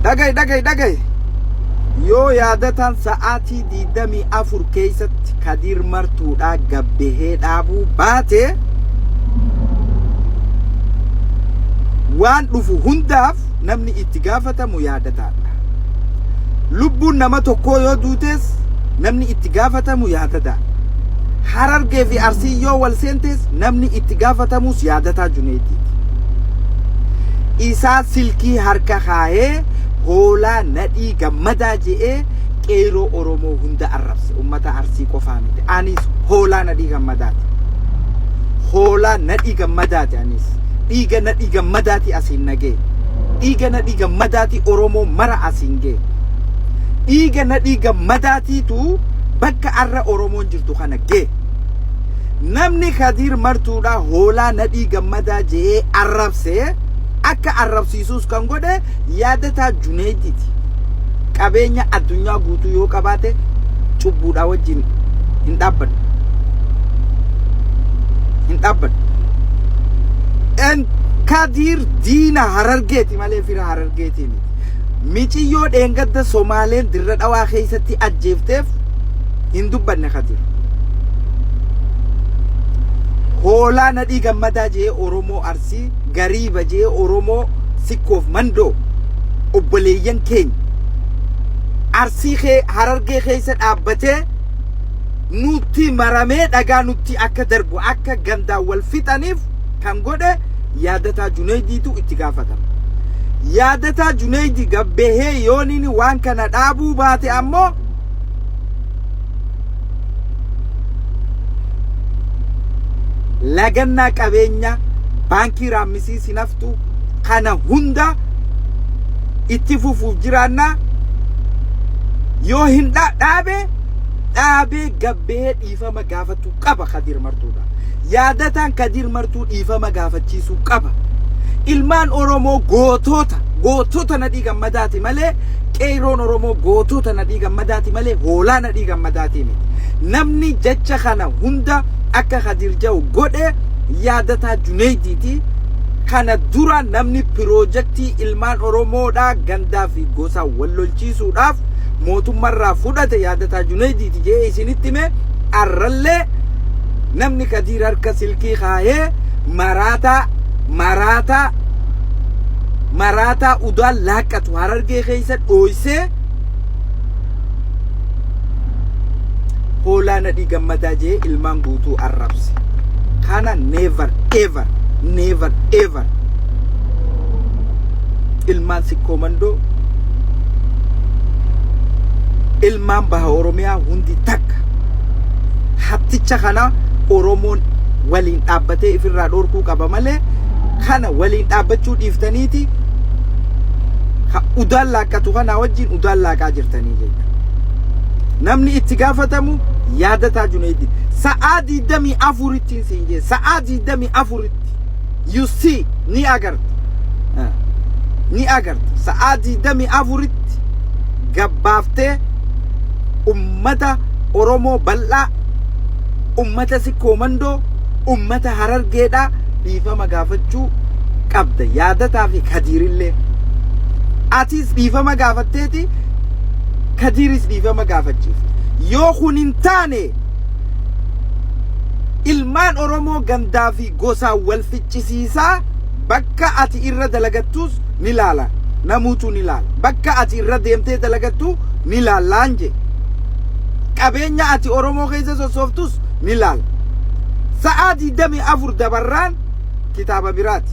Dhagahi dhagahi dhagahi. Yoo yaadataan sa'aatii 24 keessatti Kadiir Martuudhaa gabbahee dhaabuu baate waan dhufu hundaaf namni itti gaafatamu yaadataadha. Lubbuun nama tokkoo yoo duutes namni itti gaafatamu yaadataadha. Harargee fi Arsii yoo wal seentees namni itti gaafatamus yaadataa Juneediiti. Isaa silkii harka kaayee hoolaa nadhii gammadaa je'ee qeeyroo Oromoo hunda arrabse. Ummata Arsii qofaa miti. Anis hoolaa nadhii gammadaati. Hoolaa nadhii gammadaati anis. Dhiiga nadhii gammadaati asiin nagee. Dhiiga nadhii gammadaati Oromoo mara asiin gee. Dhiiga nadhii gammadaatiitu bakka arra Oromoon jirtu kana gee. Namni Kadiir Martuudha hoolaa Nadhii Gammadaa je'ee arrabse akka arrabsiisuus kan godhe yaadataa Juneeydiiti. Qabeenya addunyaa guutuu yoo qabaate cubbuudhaa wajjin hin dhaabbadhu. Hin dhaabbadhu. En Kadiir diina harargeeti malee fira harargeetiin. Miciyyoo dheengadda Somaaleen dirra dhawaa keessatti ajjeefteef hin dubbanne Kadir. Hoolaa nadhii gammadaa jee Oromoo Arsii, Gariiba jee Oromoo Sikkoof Mandoo, obboleeyyan keenya. Arsii kee harargee keessa dhaabbatee nutti maramee dhagaa nutti akka darbu akka gandaan wal fixaniif kan godhe Yaadataa Juneydiitu itti gaafatama. Yaadataa Juneydi gad bahee yoon inni waan kana dhaabuu baate ammoo lagannaa qabeenyaa baankii raammisii sinaftu kana hunda itti fufuuf jiraannaa yoo hin dha- dhaabe dhaabee gad bahee dhiifama dhiifama gaafachuu qaba Kadiir Martuudha. Yaadataan Kadiir Martuu dhiifama gaafachiisuu qaba. Ilmaan Oromoo gootoota gootota nadhii gammadaati malee qeeyroon Oromoo gootota nadhii gammadaati malee hoolaa nadhii gammadaatii miti. Namni jecha kana hunda akka Kadiir Jawu godhe yaadataa Juneeydiiti. Kana dura namni piroojaktii ilmaan Oromoodhaa gandaa fi gosaa wal lolchiisuudhaaf mootummarraa fudhate yaadataa junaydiiti je'ee isinitti hime arrallee namni kadiir harka silkii kaayee maraataa maraataa maraataa udaan laaqqatu harargee keessa dhooysee hoolaa nadhii gammadaa jee ilmaan guutuu arrabse kana never ever never ever ilmaan koomandoo ilmaan baha Oromiyaa hundi takka hatticha kana Oromoon waliin dhaabbatee ifirraa dhorkuu qaba malee kana waliin dhaabbachuu dhiiftaniiti ha udaan laaqqatu kanaa wajjin udaan laaqaa jirtanii jechuudha. Namni itti gaafatamu yaadataa Juneeddiin sa'aa 24 ittiin siin jee sa'aa 24 itti. you see ni agarta Ah, ni agarta sa'aa digdamii afuritti gabbaaftee ummata oromoo bal'aa ummata sikkoo mandoo ummata harargeedhaa dhiifama gaafachuu qabda yaadataa fi kadiirillee atiis dhiifama gaafatteeti kadiiris dhiifama gaafachiifte yoo kun hin taane ilmaan oromoo gandaa fi gosaan wal ficcisiisaa bakka ati irra dalagattuus ni laala namuutuu ni laala bakka ati irra deemtee dalagattuu ni laallaan jee qabeenya ati oromoo keessa sossooftus ni laala sa'aa 24 dabarraan kitaaba biraati.